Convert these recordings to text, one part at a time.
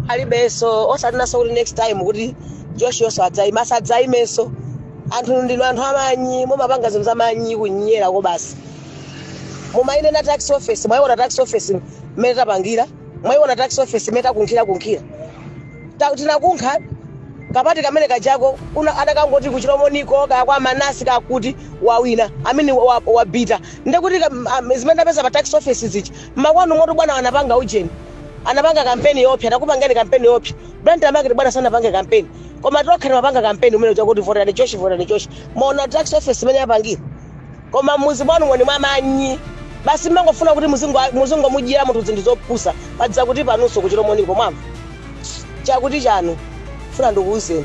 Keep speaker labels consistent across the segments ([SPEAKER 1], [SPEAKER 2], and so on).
[SPEAKER 1] alibenso osanenanso kuti next time kuti Joshiyonso adzaime asadzaimenso anthu ndinu anthu amanyi mumapanga zinthu zamanyi kunyera ko basi mumayinena tax office mwayiona tax office mmene tapangira mwayiona tax office mmene takunkhira kunkhira Ta- tinakunkha kapati kamene kajako una adakangoti ku Chilomoniko kaya kwa Manase kakuti wawina amene wa- wabita ndekuti ka- m- am- zimene tapeza pa tax office zichi mmakwanu moto bwana anapanga ujeni anapanga kampeni yopsa takupangeni kampeni yopsa Blantyre market bwana sanapange kampeni koma tokha timapanga kampeni umene chakuti voterani Josh voterani Josh mwaona tax office imene yapangira koma mmuzi mwanumo ndi mwamanyi basi mmangofuna kuti muzingo muzingomudyera munthu zinthu zopusa paja kuti panunso ku Chilomoniko mwamva chakuti chanu funa ndikuwuzeni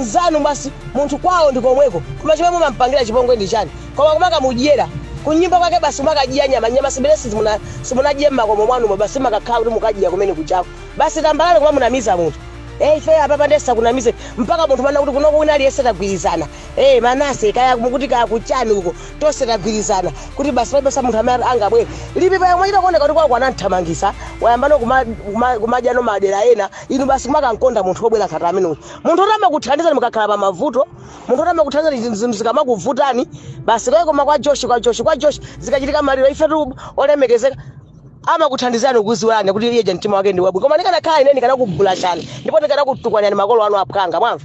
[SPEAKER 1] mzanu basi munthu kwawo ndi komweko koma chomwe mumampangira chipongwe ndi chani koma kumakamudyera kunyumba kwake basi kumakadya nyama nyama zimene simuna simunadye mmakomo mwanumo basi mukakhala kuti mukadya kumene kuchako basi tambalale kumamunamiza munthu Eh, ife apapa ndisakunamize mpaka munthu mana kuti kuno kuwina aliyese tagwirizana Ee Manase kaya mukuti kaya kuchani uko tonse tagwirizana kuti basi palibenso munthu amene angabwere Lipipa yemwe chita kuoneka kuti kwako anamthamangisa wayambano kuma, kuma, kumadyano madera ena inu basi kumakankonda munthu wobwera ngati ameneyo munthu oti amakuthandizani mukakhala pa mavuto munthu oti amakuthandizani zinthu zinthu zikamakuvutani basi kaye koma kwa Josh kwa Josh kwa Josh zikachitika maliro ifetu olemekezeka amakuthandizani kuziwani kuti iye je mtima wake ndi wabwino koma ndikanakhala ine ndikanakubulashani ndipo ndikanakutukwanirani makolo anu aphwanga mwamva